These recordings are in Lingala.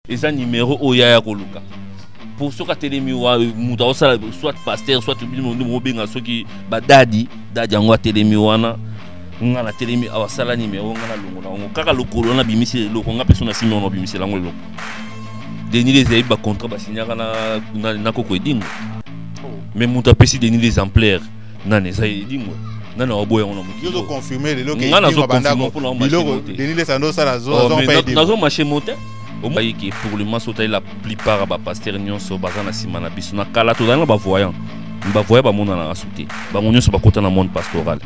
eza numero oyo yaya koluka po soki atelemi wa moto akosala soit paster soit bino nde mobenga soki badadi dadi yango atelemi wana nga natelemi awa asala numero nga nalongo na yango kaka lokolo wana abimisi eloko nga mpeso na simi wana abimisela yango eloko denis les ayebi bacontrat basignaka na, na, na koko edingo oh. mais moto apesi denis les amplaire nani eza edingo nani akoboya yango na mokiinga nazoconfirme lelo nazoconfirme mpona nazomache mote omayi ke pour le moment soki otali la plupart ya bapastere nyonso baza na nsima na biso na kala tozali na bavoyant me bavoyant bamonanaka su te bango nyonso bakota na monde pastoral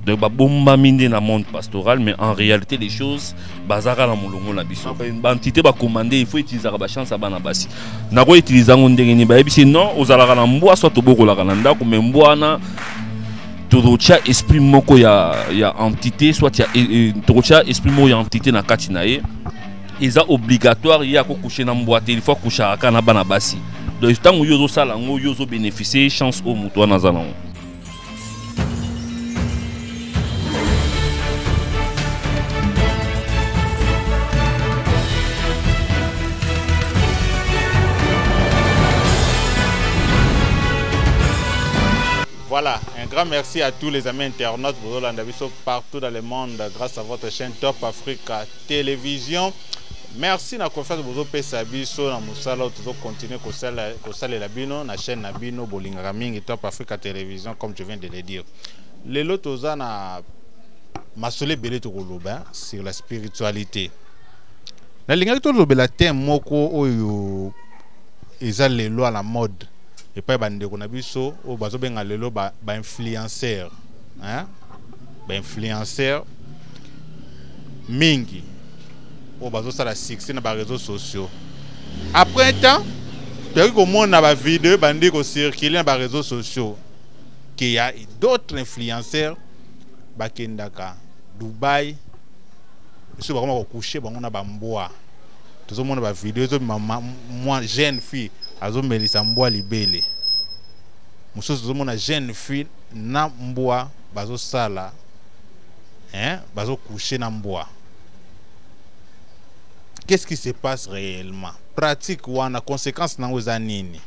donc babombami nde na monde pastoral mais en réalité les choses bazalaka na molongo na biso bantité bacommande il faut utilisaka bachance ya bana basi nakoki utilize yango ndenge nini bayebisi non ozalaka na mbwa soit tobokolaka na ndako me mbwa wana tokotya esprit moko ya, ya entité soit ya, e, tokotya esprit moko ya entité na kati na ye eza obligatoire ye akokouche na mbwa te ilfaut akouchaka kaka na bana basi donc ntango yo ozosala yango yo ozobénéficie chance oyo moto wana aza nango Voilà, un grand merci à tous les amis internautes Bozolanda Biso partout dans le monde grâce à votre chaîne Top Africa Télévision. Merci na confiance Bozo pesa biso na musala tozo continuer ko sala ko sala la bino na chaîne na bino bolingaka mingi Top Africa Télévision comme je viens de le dire. Lelo toza na masole belé to koloba hein, sur la spiritualité. Na lingaki to lobela thème moko oyo eza lelo à la mode epai ya bandeko na biso oyo bazobenga lelo bainfluenceur ba bainfluenceur mingi oyo bazosala succès na bareseau sociaux après temps toyaki komona bavideo ebandi kocircule na bareseau sociaux ke ya d'autres influenceur bakendaka dubai biso bakoma kokushe bango na bambwa tozomona ba video ezobima mwa jeune fille azomelisa mbwa libele mosusu tozomona jeune fille na mbwa bazosala hein, bazokouche na mbwa qu'est-ce qui se passe réellement pratique wana conséquence nango eza nini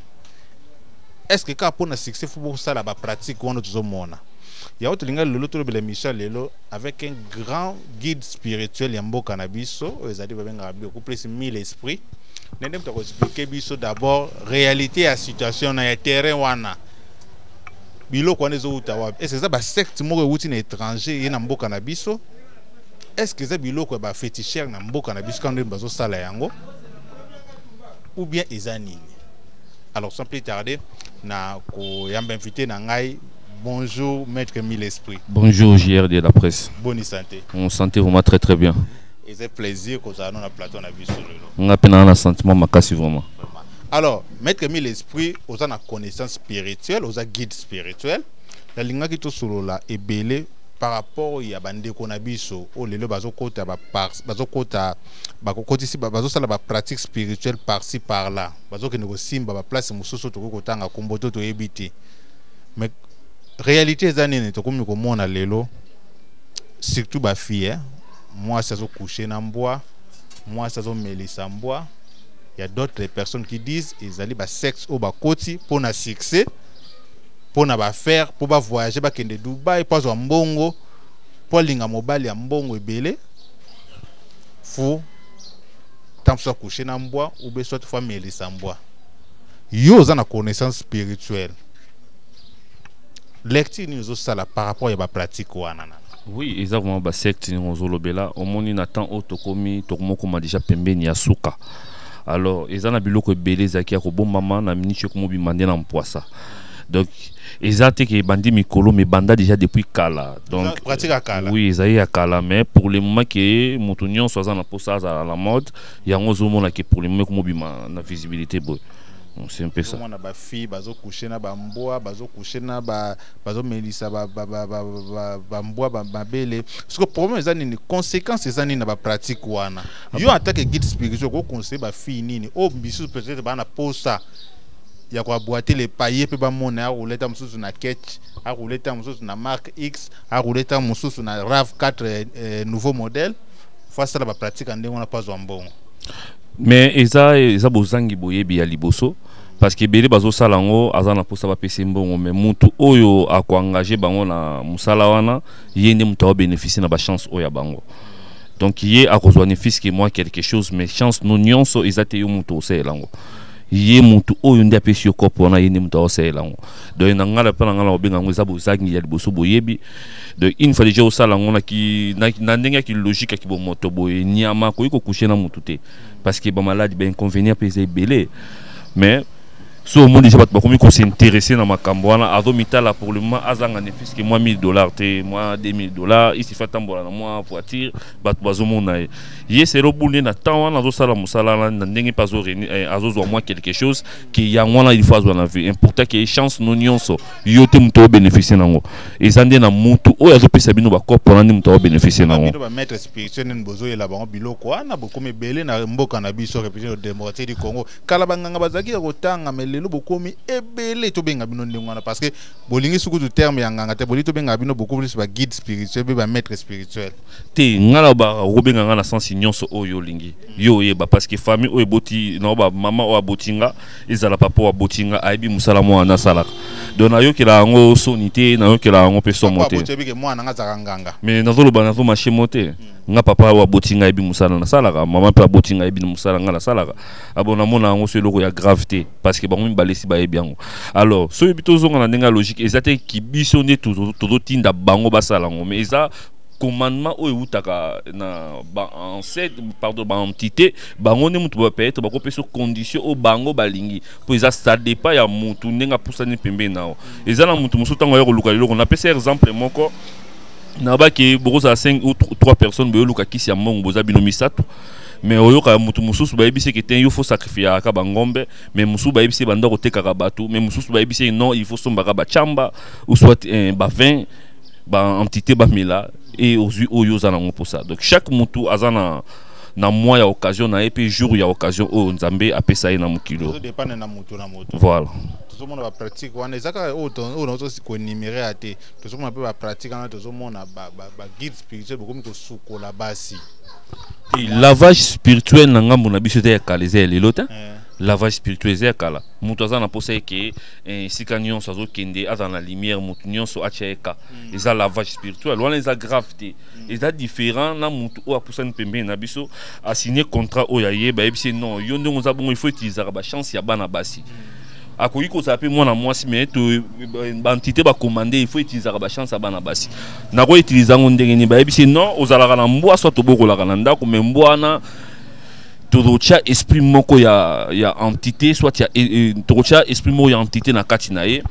est ce que kaka mpo na succès fo bosala bapratique wana tozomona yango tolingai lelo tolobela émission lelo avec un grand guide spirituel ya mboka na biso oyo ezali babengaka bioku plus mille esprit nde nde moto akoexplike biso d'abord réalité ya situation na ya terrain wana biloko wana ezowuta wapi ese eza basecte moko ewuti na étranger ye na mboka na biso est-ce que eza biloko ya bafetichere na mboka na biso kano ndeni bazosala yango ou bien eza nini alors sans plus tarder na koyamba invité na ngai Bonjour, maître Mille Esprit. Bonjour, JR de la presse. Bonne santé. Mon santé vraiment très très bien. Et c'est plaisir que vous avez un plateau à sur le lot. On a peine un sentiment makasi vraiment. Alors, maître Mille Esprit, vous avez une connaissance spirituelle, vous avez un guide spirituel. La linga qui est sur là est belée par rapport ya bandeko na biso oyo lelo bazokota bazokota bakokotisi bazosala bapratique spirituelle parci par là bazokende kosimba baplace mosusu tokoki kotanga kombo to toyebi te mais réalité eza nini tokomi komona lelo surtout bafille eh? mwasi azokouche na mbwa mwasi azomelisa mbwa ya d'autres personnes qui disent ezali basexe oyo bakoti mpo na succès mpo na bafaire mpo bavoyage bakende dubai mpo azwa mbongo mpo alinga mobali ya mbongo ebele fu ntango mosusu akouche na mbwa ube soit fo amelisa mbwa yo oza na connaissance spirituelle lecture nini ozosala par rapport ya bapratique wana na oui eza vraiment basecte ndenge ozolobela omoni na temps oyo tokomi tokomokoma déjà pembeni ya suka alors eza na biloko ebele ezalaki ya kobombama na miniti ekomobima nde na mpwasa donc eza te ke ebandi mikolo mais banda déjà depuis kala donc oui ezali ya kala mais pour le moment ke moto nyonso aza na mposa azala na mode yango ozomona ke pour le moment komobima na visibilité boye c'est un peu ça mwana ba fille bazo coucher na ba mbwa bazo coucher na ba bazo melisa ba ba ba ba ba, ba mbwa ba mabele parce que problème eza nini conséquence eza nini na ba pratique wana ah yo en tant que guide spirituel ko conseiller ba fille nini oh bisu peut-être bana posa ya koabwate le paye mpe bamona akola ntango mosusu na ketch akola ntango mosusu na mark x akola ntango mosusu na rav 4 eh, nouveau modèle fo asala bapratique ya ndenge wana mpo azwa mbongo mais eza eza bozangi boyebi ya liboso parce que ebele bazosala yango aza na mposa bapesa mbongo mais mutu oyo akoengage bango na mosala wana ye nde moto aobénéficie na bachance oyo ya bango donc ye akozwa ne fiske moi quelque chose mais chance no nyonso eza te yo moto osalela yango ye mutu oyo nde apesi yo kopo wana ye nde moto aosalela yango donc na ngai mpe na ngai na kobenga yango eza bozangi ya liboso boyebi donc une fois déjà osala yango na ndenge ya kilogique ya kibomoto boye nyama akoki kokushe na motu te parce que bamaladi bainconvénient mpe eza ebele mais so omoni déjà bato bakomi kosinteresse na makambo wana azomitala pour le moment azanga ne fiske mwa 1000 dollars te mwa 2000 dollars isifi atambola na mwa voiture bato bazomona ye ye selo bunde na temps wana azosala mosala wana na ndenge mpe azozwa eh, mwa quelque chose ke yango wana ilfo azwa na vie importa ke chance no nyonso yo te moto obeneficie nango eza nde na mutu oyo azopesa bino bakopo wana nde moto aobeneficie nango bino bamaître spirituel nini bozoyela bango biloko wana bokomi ebele na mboka na biso république démocratique du congo kala banganga bazalaki ya kotanga me lelo bokomi ebele tobenga bino ndenge wana parce que bolingi sukutu terme ya nganga te bolingi tobengaka bino beaucoup plus baguide spirituel mpe bamaître spirituel te ngai na okobenga ngai na sensi nyonso oyo olingi yo oyeba parce que famille oyo eboti na bamama oyo aboti nga ezala papa wa botinga ayebi mosala mwana nasalaka donc nayokela yango soni te nayokela yango mpe somo te mais nazoloba nazo mashe mo te hmm. nga papa oyo aboti ngai ayebi mosala nasalaka mama mpe aboti ngai ayebi mosala ngai nasalaka abo ah namona yango so eloko ya grave te parce que bango mibale esi bayebi yango alors soki tozonga na ndenge ya logique eza te kibiso nde tozotinda bango basala yango mais eza commandement oyo ewutaka na baancêtre pardon baentité bango nde moto peut-être bakopesa condition oyo bango balingi mpo eza ça dépend ya motu ndenge apusani pembeni na yo eza na motu mosusu ntango aya koluka liloko napesa exemple moko nabaki bokozala 5 ou 3 personnes boyoluka kisi ya mbongo boza bino misato mais oyoka mutu mususu bayebisi eke te yo faut sacrifiaka bangombe mais mususu bayebisi banda kotekaka bato mais mususu bayebisi non il faut sombaka bachamba ou soit eh, bavin ba entité ba mela et ozui oyo oza nango posa donc chaque mutu aza na na mois ya occasion na ye mpe jour ya occasion oyo nzambe apesa ye na mokilo voilà tozomona bapratique wana ezaka oyo nazosi koenumere ya te tozomona mpe bapratique wana tozomona baguide spirituel bokomi kosukola basi lavage spirituel na ngambo na biso eza ya kala eza ya lelo te eh. lavage spirituel eza ya kala moto aza na mposa eke Eh, esika nyonso azokende azala na lumière motu nyonso atya eka mm. eza lavage spirituel wana eza grave te mm. eza différent na motu oyo apusani pembeni na biso asigne contrat oyo aye bayebisi non yo ndenge oza bongo il faut utilisaka bachance ya bana basi mm. akoki kozala mpe mwana mwasi mais baentité bakomande il faut utilisaka bachance ya bana basi nakoutiliza yango ndenge nini bayebisi non ozalaka na mbwa soit tobokolaka na ndako mais mbwa wana tokotya esprit moko ya, ya entité soit ya, e, tokotya esprit moko ya entité na kati na ye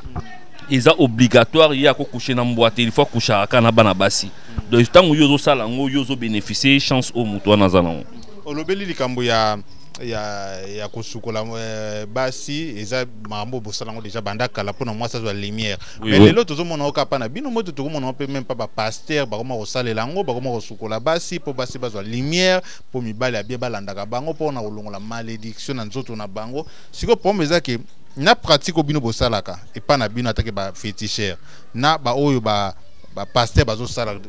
eza obligatoire ye akokouche na mbwa te il faut akouchaka kaka na bana basi donc ntango yo ozosala yango yo ozobénéficie chance oyo moto wana aza nango olobeli likambo ya ya, ya kosukola euh, basi eza makambo bosala yango deja banda kala mpona mwasi azwa lumière oui, mais oui. lelo tozomona oka mpa na bino moto tokomona mpe meme mpa bapaster bakoma kosalela yango bakoma kosukola basi mpo basi bazwa lumière po mibali ya bien balandaka bango pona kolongola malediction na nzoto na bango sikoyo problème eza ke na pratique oyo bino bosalaka epai na bino atake bafetichere na baoyo bapaster bazosala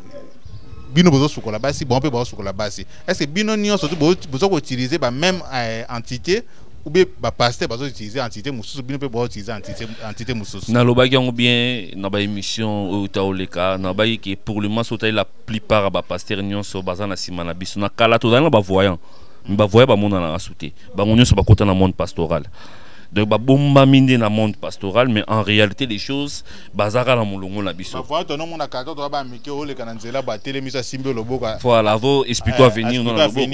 bino bozosukola basi bango mpe bazosukola basi est ce que bino nyonso boza koutilize bameme eh, entité ou bien bapaster bazoutilize entité mosusu bino mpe bazoutilize entité mosusu nalobaki yango bien na baémission oyo utaoleka nalobaki ke pour le moment soki otali la plupart ya bapastere nyonso baza na nsima na biso na kala tozali na bavoyant me bavoya bamonanaka su te bango nyonso bakota na monde pastoral donc babombami nde na monde pastoral mais en réalité des choses bazaka na molongo na biso voilà avo explique avenir no na loboko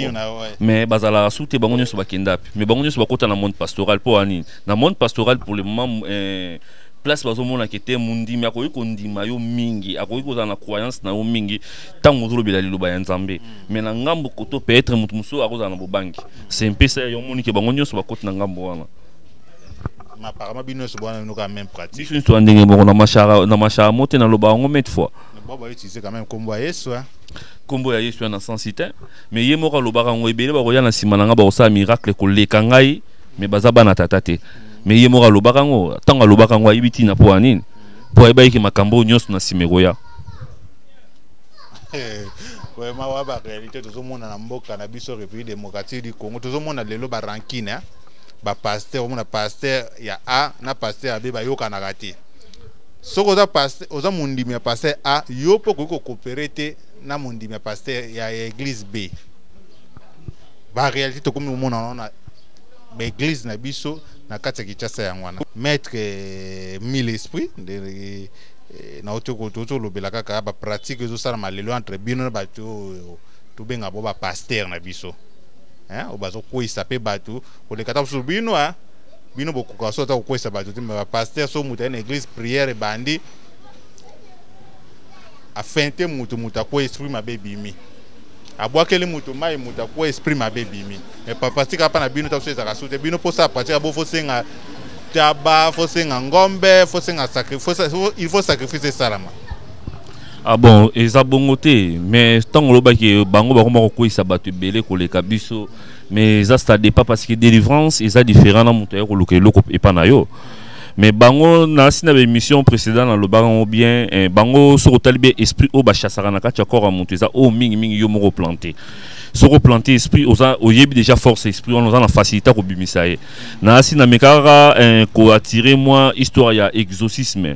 mais bazalaka su te bango nyonso bakenda ape mais bango nyonso bakota na monde pastoral mpo ya nini na monde pastoral pour le moment eh, place bazomona ke te mondimi akoki kondima yo mingi akoki kozala na croyance na yo mingi ntango ozolobela liloba ya nzambe mais na ngambo koto peut-être moto mosusu akozala na bobangi se mpesa ya yo omoni ke bango nyonso bakoti na ngambo wana apparemment bino nyonso bwana bino kaka même pratique biso nyonso ya ndenge moko na mashara na mashara mo te naloba yango mete fois bao bautilize quand même nkombo ya yesu nkombo ya yesu ya na sensi te mais ye moko alobaka yango ebele bakoya na nsima na ngai bakosala miracle koleka ngai mais baza bana tata te mais ye moko alobaka yango ntango alobaka yango ayebi ntina mpo ya nini mpo ayebaki makambo oyo nyonso na nsima ekoya vraiment wa ba réalité tozomona na mboka na biso république démocratique du congo tozomona lelo ba rankine hein? ba pasteur omona pasteur ya a na pasteur ya b bayokanaka te soki oza pasteur oza mondimi ya pasteur a yo mpe okoki kokopere te na mondimi ya pasteur ya, ya église b ba réalité tokomi komona yango na baeglise na biso na kati ya kinshasa yango wana maître eh, mille esprit nde eh, eh, nauti tozolobela kaka bapratique ezosalama lelo entre bino na bato oyo tobenga bo bapaster na biso oyo bazokweyisa mpe bato koleka ta mosusu bino bino bokoka so ata kokweyisa bato te me bapaster so moto aye na église prière ebandi afin te moto moto akweya esprit mabe ebimi abwakeli moto mai moto akuwa esprit mabe ebimi me papa tika mpa na bino ta ezaka su te bino mposa ya pratika bo fosenga taba fosenga ngombe fosenga il faut sacrifice esalama ah bon eza bongo te mais ntango olobaki bango bakoma kokweyisa bato ebele koleka biso mais eza stade pas parce que délivrance eza différent na moto aya koluka eloko epa na yo mais bango na sina ba émission précédente na lobaka ngo bien eh, bango soko tali bien esprit o ba chassaka na kati corps mutu eza o mingi mingi yo moko planter soko planter esprit oza oyebi déjà force esprit on oza na facilité ko bimisa ye na sina mekaka eh, ko attirer moi histoire ya exorcisme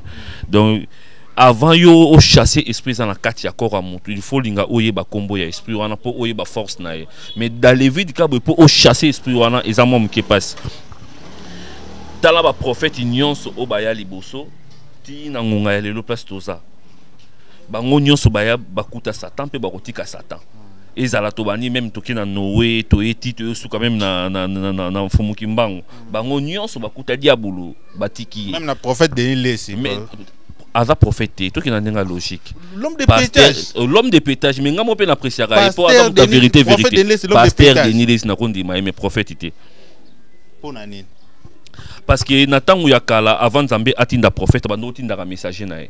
donc avant yo chasser esprit eza na kati ya corps ya motu il faut linga oyeba nkombo ya esprit wana mpo oyeba force na ye mais dans le vide kabwe mpo chasser esprit wana eza mwa moke mpasi tala baprofete nyonso oyo baya liboso tii na ngonga ya lelo place toza bango nyonso baya bakuta satan mpe bakotika satan ezala tobandi meme toke na noe toye ti toye suka meme na, na, na, na, na mfumu kimbangu mm. bango nyonso bakuta diabulu batiki ye meme na prophète denis lesi mais, aza prophète te tokenda ndenge ya logique l'homme de pétage euh, l'homme de pétage mais ngai mo mpe na appréciaka ye mpo aza moto ya vérité vérité pasteur denis lesi nakondima ye mais prophète te mpo na nini parce que na ntango ya kala avant nzambe atinda profete bando otindaka messager na ye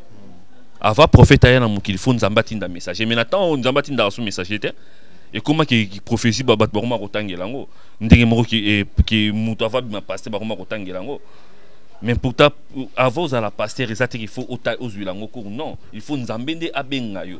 avant profete aya na mokili fo nzambe atinda messager mais na ntango nzambe atindaka so messager te ekomaki prophétie bato bakoma kotangela yango ndenge moko eh, ke moto ava bima paster bakoma kotangela yango mais pourtant avant ozala paster eza te qu'il faut ozwila yango cour non il faut nzambe nde abenga yo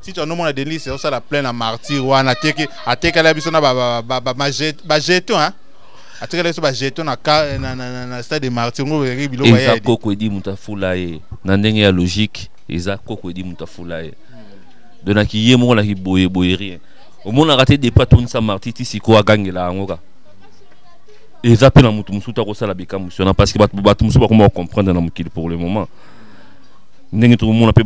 si tu nomona denise osala plein na martyr wana ateki atekala biso na bajeton hein atikala biso bajeton na stade de martyr ngo ezalaki biloko eza koko edi moto afula ye na ndenge ya logique eza koko edi moto afula ye donaki ye moko naki boye boye rien omonaka te depa tonisa martyr ti sikoyo agangela yango ka eza mpe na moto mosusu te akosala bikamwisi wana parce que bato mosusu bakoma kocomprendre na mokili pour le moment ndenge tokomona mpe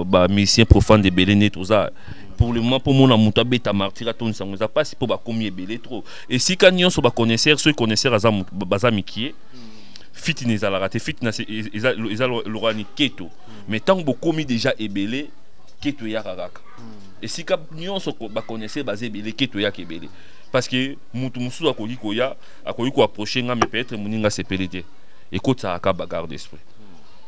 bamusicien profane ebele nde toza pour le moment mpo mona moto abeta martire atondisa yango eza mpasi mpo bakomi ebele trop esika nyonso baconnaisseur soki connaisseur baza mikie fiti na ezalaka te fiti eza lokola niketo mais ntango bokomi déjà ebele keto eyaka kaka esika nyonso baconnaisseur baza ebele keto eyaka ebele parce que moto mosusu akoki koya akoki koapproche ngai mais peut-être moninga asepeli te ekotisaka ka bagarde esprit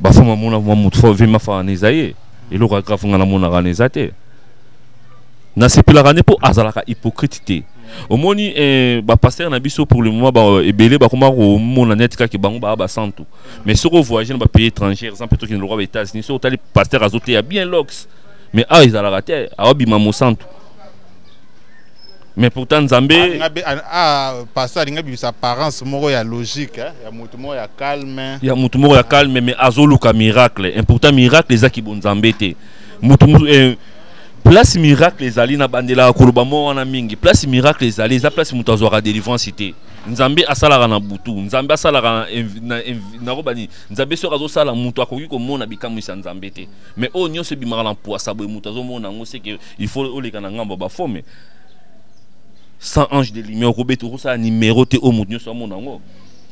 ba fama mona mwa mutu fo vima fa na eza ye eloko ya grave nga namonaka na eza te nasepelaka nde mpo azalaka hypocrite te omoni eh, bapaster na biso pour le moment ba, ebele bakoma komona neti kaka bango baa basantu mais soki ovoyage na bapays étrangère eza mpe tokende lokwa ba états-unis soki otali paster azoteya bien lox mais awa ezalaka te awabima mosantu mais pourtant nzambe ah, pasteur alingi abimisa apparence moko ya logique hein, ya moto moko ya calme ya moto moko ya calme mais azoluka miracle et pourtant miracle eza kibonzambe te moto eh, place miracle ezali na bandelaka koloba moko wana mingi place miracle ezali eza place moto azwaka délivrance te nzambe asalaka na butu nzambe asalaka nakoba nini nzambe soki azosala moto akoki komona bikamwisi ya nzambe te mais oyo nyonso ebimaka na mpuasa boye moto azomona yango seke il faut oleka na ngambo ya bafome sans ange de lumière okobeta okosala numéro te oyo moto nyonso amona yango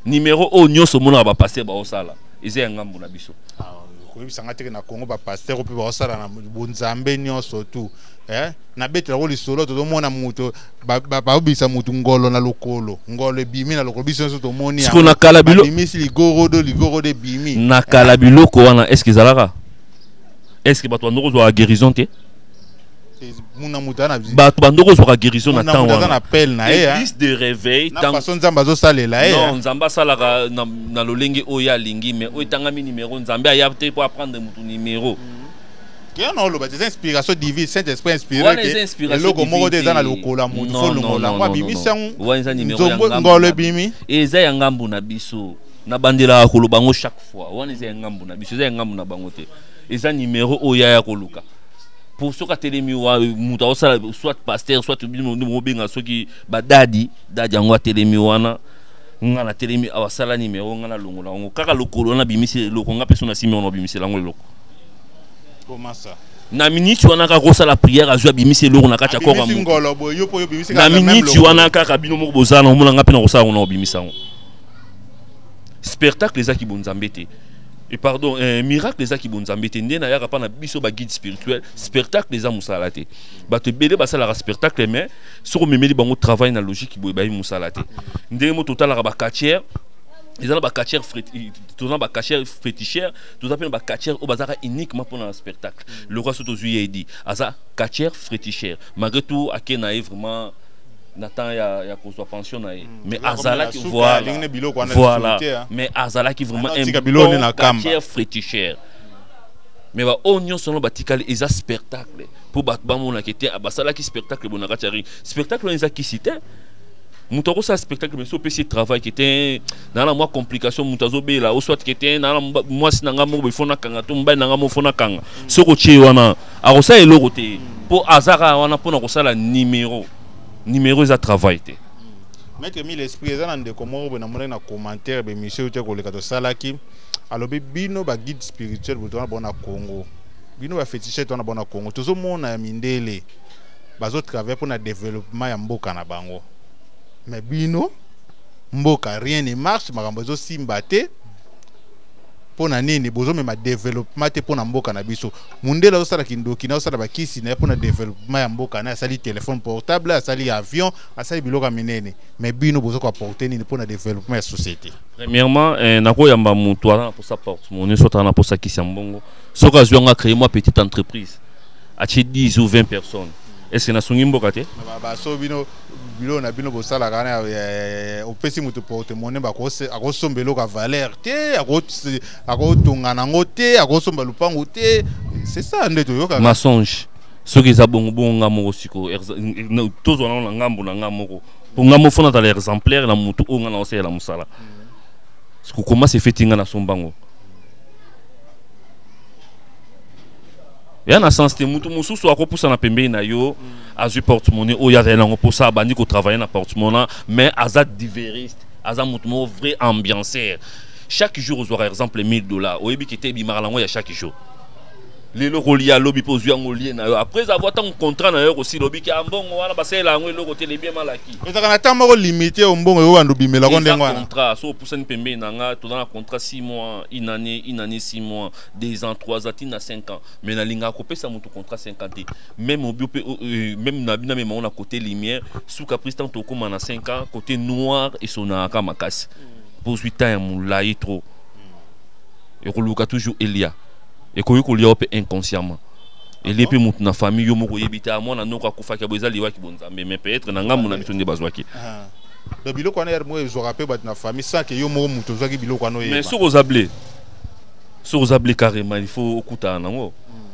numéro oyo nyonso omonaka bapaster baosala eza ya ngambo na biso ah, koyebisa ngai teke na congo bapaster mpe baosala na bonzambe nyonso tu eh? nabetela yango lisolo tozomona moto babisa motu ngolo na lokolo ngolo ebimi na lokolo biso nyonso tomoni siko na kala bilobimisi ligorodo ligorodo ebimi na kala biloko wana estce ezalaka estce bato bando kozwaka guérison te bato bandoko ozwaka guérison na ntango wana église de réveil façon nzambe azosalela ye non nzambe asalaka na lolenge oyo ye alingi mais oyo etangami numero nzambe aya te mpo aprendre moto numero yango na oloba te eza inspiration divine saint esprit inspireeloko moko te eza na lokola moto fo longola yango abimisi yango ngolo ebimi eza ya ngambo na biso nabandelaka koloba yango chaque fois wana eza ya ngambo na biso eza ya ngambo na bango te eza numero oyo yaya koluka pour soki atelemi wa moto aosala soit pasteur soit bino nde bobenga soki badadi dadi yango atelemi wana nga natelemi awa asala nimero nga nalongola yango kaka lokolo wana abimisi eloko nga mpe so nasimi wana abimisela yango eloko komasa na miniti wana kaka kosala priere azwi abimisi eloko na kati ya kora na miniti wana kaka bino moko bozala na omona nga mpe nakosala yango na obimisa yango spectacle ezaki bonzambe te Et pardon, eh, miracle eza ki bonzambe te nde na yaka pa na biso ba guide spirituel, spectacle eza musala te. Ba te belé ba sala spectacle mais soko memeli bango travail na logique boye ba musala te. Nde mo totalaka ba catcheur eza na ba catcheur toza ba catcheur féticheur, toza pe na ba catcheur o bazaka uniquement pour na spectacle. Le roi soto zuye dit, aza catcheur féticheur. Malgré tout, akena est vraiment na temps ya, ya kozwa pension na ye mm. mais azalaki voilà, voilà. Hein. mais azalaki vraiment un bon quartier fétichère mais baoyo nyonso yango batikali eza spectacle mpo bato bamonaka te ah, basalaki spectacle bona kati ya ring spectacle wana eza kisi te moto akosala spectacle mais so opesi travail ke te naa na mwa complication moto azobela o soit ke te naa na mwasi na ngai moko befo nakanga to mobali na ngai moko fo nakanga soki otie wana akosala eloko te mpo aza kaka wana mpo na kosala nimero nimero eza travail te maître mille esprit eza na ndeko moko boye namonaki na commentaire bemission oyo te koleka tosalaki alobi bino baguide spirituel boto wana bona congo bino bafetichete wana bona congo tozomona ya mindele bazotravaille mpo na développement ya mboka na bango mais bino mboka rien ne marche makambo ezosimba te mpo na nini bozomema développement te mpo na mboka na biso mundele azosala kindoki na azosala bakisi na ye mpo na developpement ya mboka na asali telefone portable asali avion asali biloko ya minene mais bino boza koaporte nini mpo na developpement ya société premièrement eh, nakoyamba motu aza na mposa porte moni soki aza na mposa kisi ya mbongo soki azwi yango acreye mwa petite entreprise atie 10 ou 20 personnes est ce que nasungi mboka te baso bino biloko na bino bosalaka na opesi moto porte moni akosomba eloko ya valeur te akotonga nango te akosomba lupangu te c'est ça nde toyokaka mensonge soki eza bongo bongo nga moko sikoyo tozwa nango na ngambo na nga moko mpo nga moko fona azala exemplaire na motu oyo nga naosalela mosala kokoma se feti nga nasomba ngo ya na sens te motu mosusu akopusana pembeni na yo azwi portemone oyo azali nango mposa abandi kotravaille na portemona mais aza diveriste aza motu moko vrai ambianceur chaque jour ozwaka exemple 1000 dollars oyebi kete ebimaka nango ya chaque jour lelo kolia lobi mpe ozwi yango olie na yo après avoir ntango contrat na yo kosila obiki ah, mbongo wana basalela yango eloko te lebie malaki ezalaka na ntango moko limite oyo mbongo yo banda obimelako ndenge wana contrat so opusani pembeni na nga toza na contrat 6 mois une année une année 6 mois 2 ans 3 ans ntina 5 ans mais nalingaka kopesa moto contrat 5 ans te même obio mpe oh, euh, même na bino amema ngo na côté lumière suka prise ntango tokokoma na 5 ans côté noir esonaka makasi mm. bozwi temps ya molai trop ekoluka toujours elia ekoki kolia yo mpe inconsciemment ah elie mpe motu na famille yo moko oyebi te ah, mwana noko akufaki abo eza liwaki bonzambe mais peut-être na ngambo na biso nde bazwaki ah. donc biloko wana yar moko ezwaka mpe bato na famille sans ke yo moko moto ozwaki biloko wana oyeba mais soki oza ble soki oza ble carrément il faut okutana nango hmm.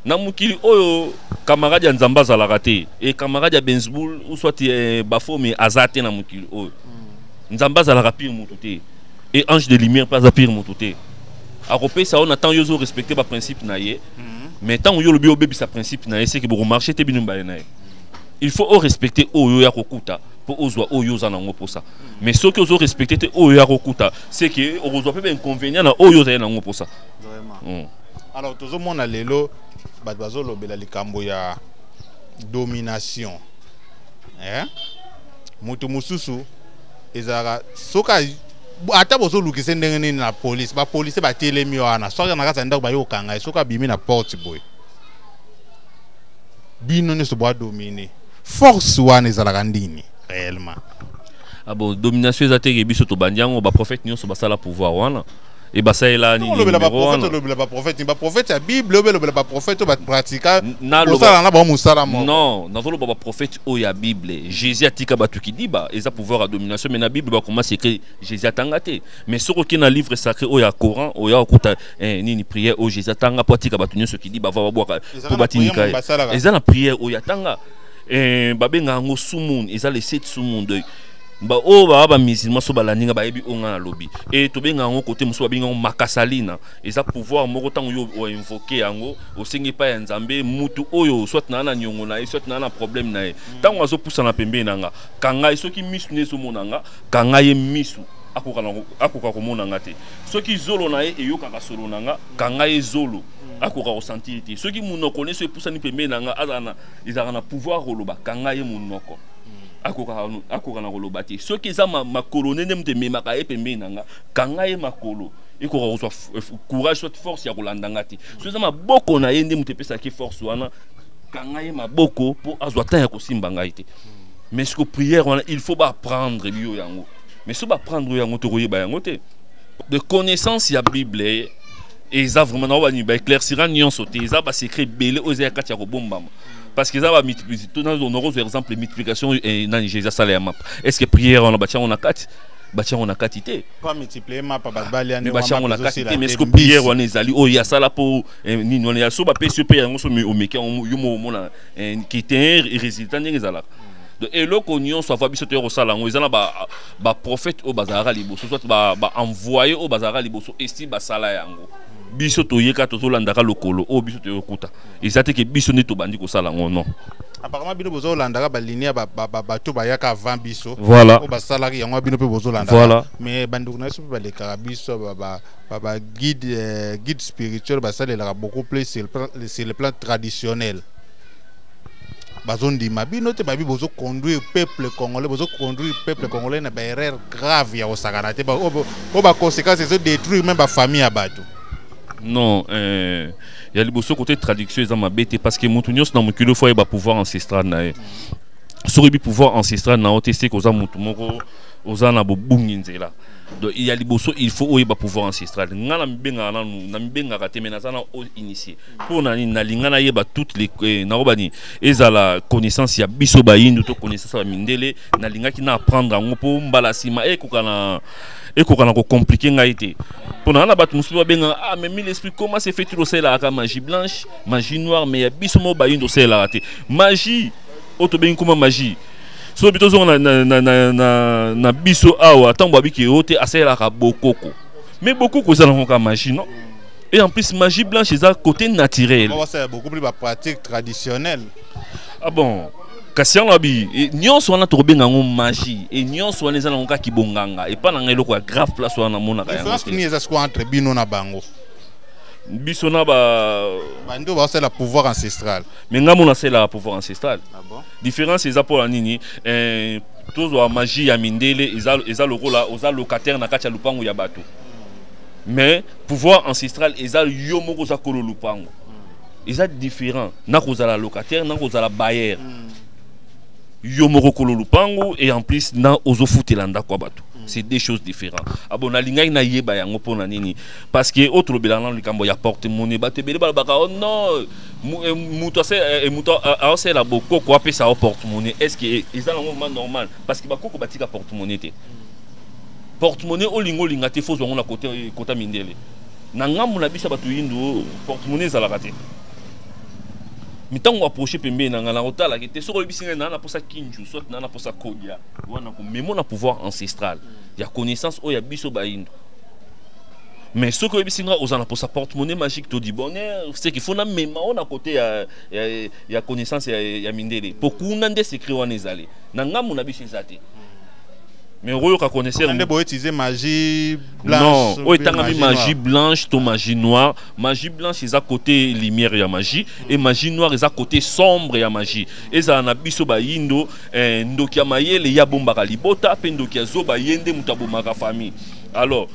na mokili oyo camarade ya nzambe azalaka te e camarade ya bensboul ou soit eh, bafomi aza te na mokili oyo mm. nzambe azalaka pire motu te e ange de lumière mpe aza pire motu te akopesa yo na ntango yo ozo respecte baprincipe na ye mhm. mais ntango yo olobi obebisa principe na ye seke bokomarche te bino mibale na ye il faut orespecte oyo ya kokuta mpo ozwa oyo oza nango mposa mhm. mais soki ozo respecte te oyo ya kokuta seke okozwa mpe bainconvénient na oyo ozali nango mposa mm. alors tozomona lelo bato bazolobela likambo ya domination eh? moto mosusu ezalaka soki ata bozolukise ndenge nini na polise bapolise batelemi wana soki na kati ya ndako baye kokanga ye soki abimi na porte boye bino nyonso boadomine force wana ezalaka ndini réellement ah bon domination eza teke biso tobandi yango baprofete nyonso basala pouvoir wana Et bah ça est là, ni le ba prophète, le le ba prophète, ba prophète ya Bible, le le ba prophète ba pratika. Na le ba na ba musala mo. Non, na le ba prophète o ya Bible. Jésus atika ba tuki diba, eza pouvoir à domination mais na Bible ba comment c'est que Jésus atanga te. Mais soko ki na livre sacré o ya Coran, o ya okuta eh nini prière o Jésus atanga po atika ba tunyo soki diba va ba bwaka. Po batinika. Eza na prière o ya tanga. Eh babenga ngo sumon, eza les sept sumon de baoyo oh, baa bamusulman so balandi nga bayebi oyo nga nalobi e tobenga yango kote mosusu babengi yango makasalina eza pouvoir moko ntango yo oinvoke yango osengi epai ya nzambe mutu oyo soit naa na niongo na ye soit naa na problème na ye ntango azopusana pembeni na nga kanga ye soki misu nde ezomona nga kanga ye misu akoka komona nga te soki zolo na ye eyokaka solo na nga kanga ye zolo akoka kosentir te soki monoko nyonso epusani pembeni na nga azala ezalaka na pouvoir koloba kanga ye monoko akoka na koloba te soki eza makolo nde nde moto ememaka ye pembeni na nga kanga ye makolo ekoka kozwa eh, courage soit force ya kolanda nga te soki eza maboko na ye nde moto epesaki force wana kanga ye maboko mpo azwa temps ya kosimba ngai te mais siko prière wana il faut baprendre biyo yango mais so baprendre yo yango tokoyeba yango te de connaissance ya bible eh, eza vraiment na oyo balingi baéclaircira nyonso te eza basecret ebele oyo eza ya kati ya kobombama parce que eza ba nakozwa exemple multiplication eh, nani je eza sala ya mapa est ce que prière wana batyango na kati batya yango na kati te batya yango na kati te mais soki priere wana ezali oyo ya sala mpo eh, nini wana ya so bapesi yo mpe yango so omeki yango yo mo omona eh, kite résultat ndenge ezalaka donc eloko nyonso ava biso toya kosala yango eza na baprofete oyo bazalaka liboso soit baenvoye oyo bazalaka liboso esi basala yango biso toyeka tozolandaka lokolo oyo biso toyokuta eza te ke biso nde tobandi kosala yango non apparemment bino bozolandaka baline ya bato bayaka avant biso voilà oyo basalaki yango bino mpe bozolandaka voilà mais bandeko na biso mpe balekaka biso baguide euh, guide spirituel basalelaka beaucoup plus sur le plan traditionnel bazondima bino te babi bozoconduire peuple congolais bozoconduire peuple congolais na baerreur grave ya kosakana te oyo baconséquence ezodétruire meme bafamille ya bato non euh... ya liboso kote traduction eza mabe te parce que moto nyonso na mokili ofo ayeba pouvoir ancestral na ye soki oyebi pouvoir ancestral na yo te seke oza moto moko oza na bobungi nzela donc ya liboso il faut oyeba pouvoir ancestral ngai namibengaka nanu namibengaka te mai naza na o initie mpo na nini nalinga nayeba toute les eh, nakoba nini ezala connaissance ya biso bayindo to connaissance ya bamindele nalingaki na apprendre yango mpo mbala nsima ekoka na ekoka na kocomplike ngai te mpo na na bato mosusu babengaka ah mais mille esprit comment se fait il osalelaka magie blanche magie noire mais ya biso moko bayindo osalelaka te magie oyo tobengi nkoma magie soki tozonga na, na, na, na, na biso awa ntango babiki yo te asalelaka bokoko mais bokoko eza nango kaka magie non et en plus magie blanche eza côté naturel beaucoup plus ba pratique traditionnelle ah bon kasi yango abi e, nyonso wana tokobenga yango magie e nyonso wana eza nango kaka kibonganga epai na ngai eloko ya grave place wana namonaka yangonini eza sikoyo entre bino na bango biso na ba bando basala pouvoir ancestral me ngai mona asalelaka pouvoir ancestral ah bon? différence eza mpo na nini eh, tozwa magie ya mindele eza, eza lokola oza locataire na kati ya lopango ya bato mais pouvoir ancestral eza yo moko oza kolo lopango eza différent na kozala locataire na kozala bailleur mm. yo moko kolo lupangu et en plus na ozofutela ndako ya bato mm. c'est deux choses différentes abo ah nalingaki nayeba yango mpo na nini parce que oyo tolobela nano likambo ya porte monnaie bato ebele balobaka o oh non eh, moto eh, eh, aosala bokoko apesa o porte monnaie est ce que eza nango ma normal parce que bakoko batika porte monnaie te mm. porte monnaie olinga olinga te fozwa yango na kota mindele na ngambo na biso bato yindu portemone ezalaka te mitango approche pembeni na ngai nakotalaki te soki oyebisi ngai naa naposa kinju soit naa naposa kodia wana komemo na pouvoir ancestral ya connaissance oyo ya biso bayindo mais soki oyebisi ngai oza na posa porte monnaie magique todi bonheur ce qu'il faut namema oyo na kote ya, ya, ya connaissance ya, ya mindele mpo kuna nde secret wana ezali na ngambo na biso eza te mais okoyoka connaisseur nde boyetize magie blanche non oyo etangami magie blanche to magie noire magie blanche eza côté lumière ya magie et magie noire eza côté sombre ya magie ezala na biso bayindo eh, ndoki ya mayele ye abombaka libota mpe ndoki ya zoba ye nde moto abomaka famille alors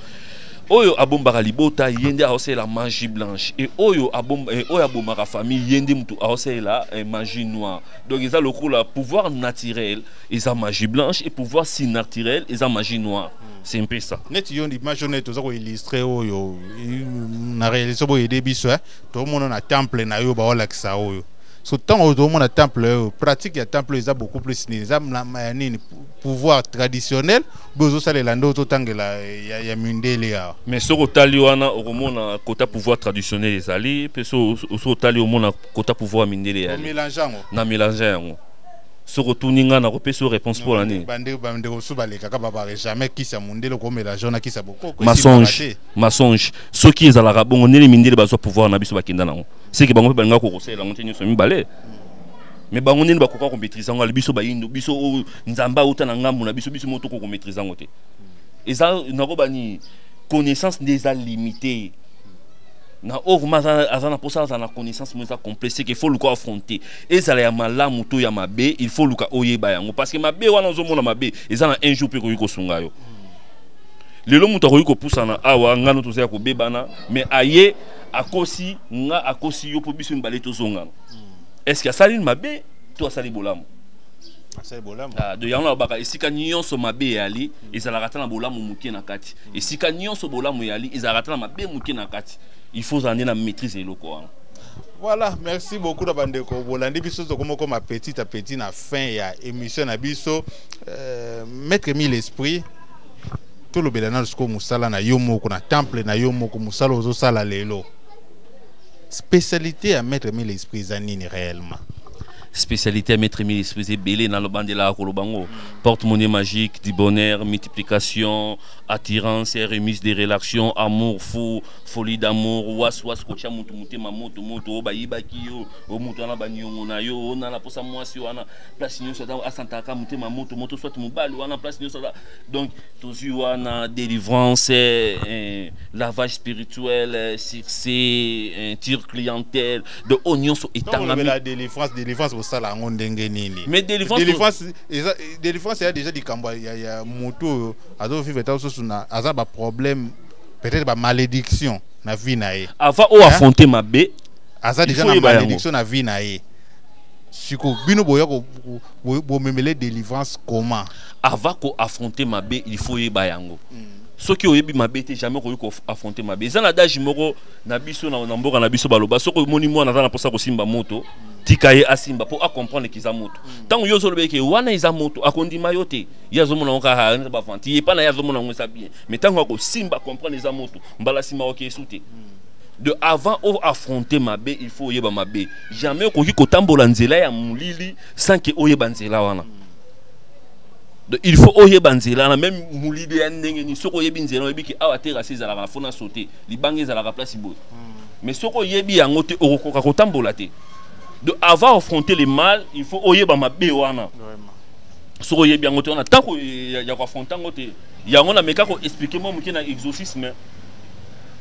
oyo abombaka libota ye nde aosalela magie blanche e oyo abomba, e, oyo abomaka famille ye nde motu aosalela e, magie noire donc eza lokola pouvoir naturel eza magie blanche et pouvoir surnaturel eza magie noire c'est un peu ça neti yo image oyo toza koillustre oyo na réalité boye ede biso eh? tomona na temple na yo baolakisa oyo so ntango oyo tomona temple oyo pratique ya temple oyo eza beaucoup plus nini eza ya nini pouvoir traditionnel boye ozosalela nde ozotangela ya, ya mindele awa mais soki otali wana okomona kota pouvoir traditionnel ezali mpe soki otali omona kota pouvoir ya mindele eyali na melange yango soki otuni ngai nakopesi yo réponse mpo na nini bandeko mosusu balekaka babare jamais kisi ya mondele okomela jo na kisi ya bokoko masonge masonge soki ezalaka bongo ndenge mindele bazwa pouvoir na biso bakenda nango seke bango mpe balingaka kokosalela yango te nyonso mibale mais bango ndenge bakoka komaîtrise yango ali biso bayindo biso oyo nzambe auta na ngambo na biso biso moko tokoki komaîtrise yango te eza nakoba nini connaissance nde eza limité na oyo vraimen aza na mposa azala na connaissance moko eza complexe ke fo luka affronte ezala ya malamu to ya mabe il faut luka oyeba yango parce que mabe wana ozomona mabe eza na un jour mpe ekoki kosunga yo lelo moto akoki kopusana awa ngano toza ya kobebana mais aye akosi nga akosi yo mpo biso mibale tozongana est ce que asali mabe to asali bolamu Ah, de yango nalobaka esika nyonso mabe eyali ezalaka ata na bolamu moke na kati esika nyonso bolamu eyali ezalaka ata na mabe moke na kati il faut ozala nde na maîtrise ya eloko wana Voilà, merci beaucoup na bandeko bolandi biso tokomokoma petit à petit na fin ya émission na biso euh, maître mille esprit tolobela nano sikoyo mosala na yo moko na temple na yo moko mosala ozosala lelo spécialité ya maître mille esprit eza nini réellement spécialité ya maître mille esprit eza ebele nalobandelaka koloba yango porte monnaie magique du bonheur multiplication attirance remise des relations amour fou folie d'amour was was kotya moto motema moto moto oyo bayibaki yo oyo moto wana baniongo na yo oyo nana mposa mwasi wana place nyonso ata asantaka motema moto moto soit mobali wana place nyonso aza donc tozwi wana délivrance eh, eh, lavage spirituel eh, succès eh, tire clientèle de oyo nyonso etangami délivrance délivrance bosala yango ndenge nini mais délivrance délivrance eza délivrance ya déjà likambo ya moto oyo azovivre ta mosusu aza baproblème peut-être ba malédiction na vie na ye avant o affronter mabe aza déjà na malédiction na vie na ye siko bino boya bomemele délivrance comment avant ko affronter mabe il faut yeba yango mm. soki oyebi mabe te jamais okoki koaffronte mabe eza na dage moko na biso na mboka na biso baloba soki omoni mwana aza na mposa kosimba moto tika ye asimba mpo acomprendre ke eza moto ntango mm. yo ozoloba eke wana eza moto akondima yo te ye azomona ngo kaka bavanti ye epai na ye azomona ngo eza bien mais ntango akosimba comprendre eza moto mbala nsima oke esu te de avant o affronte mabe il faut oyeba mabe jamais okoki kotambola nzela ya molili sans ke oyeba nzela wana donc il faut oyeba nzela wana meme molili ya ndenge nini soki oyebi nzela oyebi ke awa terase ezalaka na fo na sote libanga ezalaka place boye hmm. mais soki oyebi yango te okokoka kotambola te donc avant affronter le mal il faut oyeba mabe wana soki oyebi yango te wana ntango ya koaffronte yango te yango na meka ko expliquer moi muke na exorcisme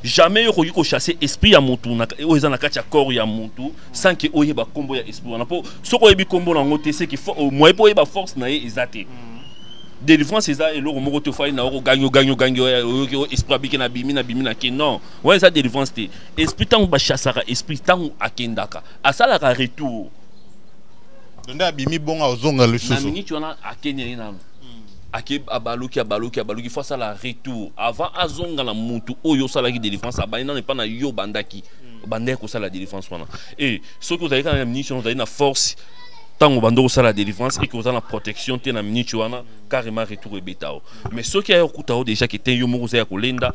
jamais yo okoki kochasse esprit ya mutu oyo eza na kati ya corps ya mutu sans ke oyeba nkombo ya esprit wana mpo soki oyebi nkombo na yango te seke moye mpo oyeba force na ye eza te mm. délivrance eza eloko moko te ofali na oko gagno gagno gagno oyoki o esprit abiki na bimi na bimi na ke non wana eza délivrance te esprit ntango bachassaka esprit ntango akendaka asalaka retour nde abimi bongo ozonga lisusu na miniti wana akendeli nano ake abaluki abaluki abaluki fo asala retour avant azonga na mutu oyo osalaki délivrance abandi nano epa na yo obandaki hmm. obandaki kosala délivrance wana e soki ozali kaka na minute wana ozali na force ntango banda kosala délivrance eke oza na protection te na minute wana carrément retour ebeta yo mais soki aye okuta yo déjà ke te yo moko oza ya kolenda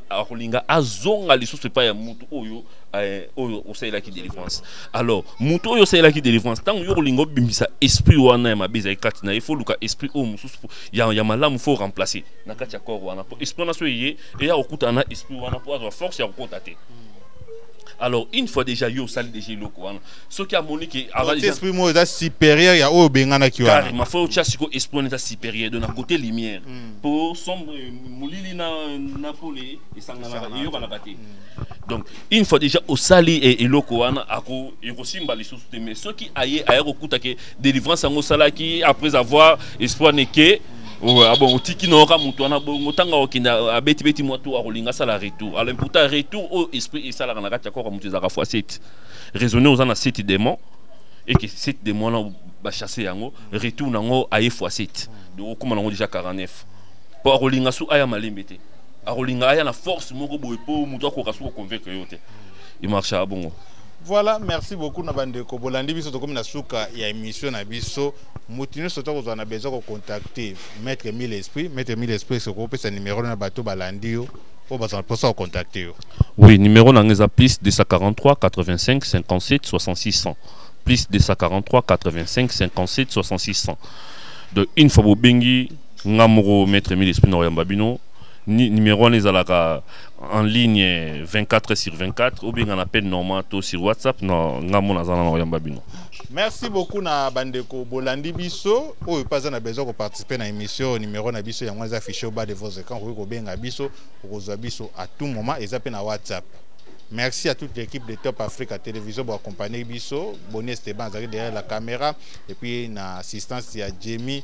akolinga azonga lisusu epai ya mutu oyo Eh, oyo osalelaki délivrance alors moto oyo osalelaki délivrance ntango yo kolinga obimisa esprit wana ya mabe ezali kati na ye fo oluka esprit oyo mosusu ya, ya malamu fo remplace na kati ya corps wana mpo esprit wana so eye eya kokutana na esprit wana mpo azwa force ya kokota te alors une fois déjà yo osali déjà eloko wana soki amoni ke esprit moko eza supérieur ya oyo obenganaki wana carrément fo otya siko esprit wana eza supérieur donc na côté lumière mpo mm. sombre molili na pole esanganaka eyokanaka te mm. donc une fois déjà osali e, eloko wana ekosimba lisusu te mais soki aye aya kokuta ke délivrance yango osalaki après avoir espoir neke ah bon otiki nayoka moto wana bongo ntango akokende abetibeti mwa to akolinga asala retour alors pourtant retour oyo oh, esprit esalaka na kati ya koko moto ezalaka fois 7 raisonne oza na 7 démon eke 7 démon wana bachasse yango retour na yango aye fois 7 donc okóma na yango déjà 49 mpo akolinga so aya malembe te akolinga aya na force moko boye mpo moto akoka soki koconvaincre yo te emarchaka bongo voilà merci beaucoup na bandeko bolandi biso tokomi na suka ya émission na biso moto nyonso to kozwa na besoin kocontacte maître mille esprit maître mille esprit soki opesa numero na bato balandi yo oyo bazala mposa kocontacte yo oui numero na ngai eza plus 243 85 57 6600 plus 243 85 57 6600 donc une fois bobengi nga moko maître mille esprit na koyamba bino ni numéro wana ezalaka en ligne 24 sur 24 obenga na appel normal to sur whatsapp na nga mona aza na na koyamba bino merci beaucoup na bandeko bolandi biso oyo mpe aza na besoin koparticipe na émission numéro na biso yango eza affiche au bas de vos écran okoki kobenga biso okozwa biso à tout moment eza mpe na whatsapp Merci à toute l'équipe de Top Africa Télévision pour accompagner Bisso. Bonnie Esteban, derrière la caméra. Et puis, une assistance, il y a Jamie.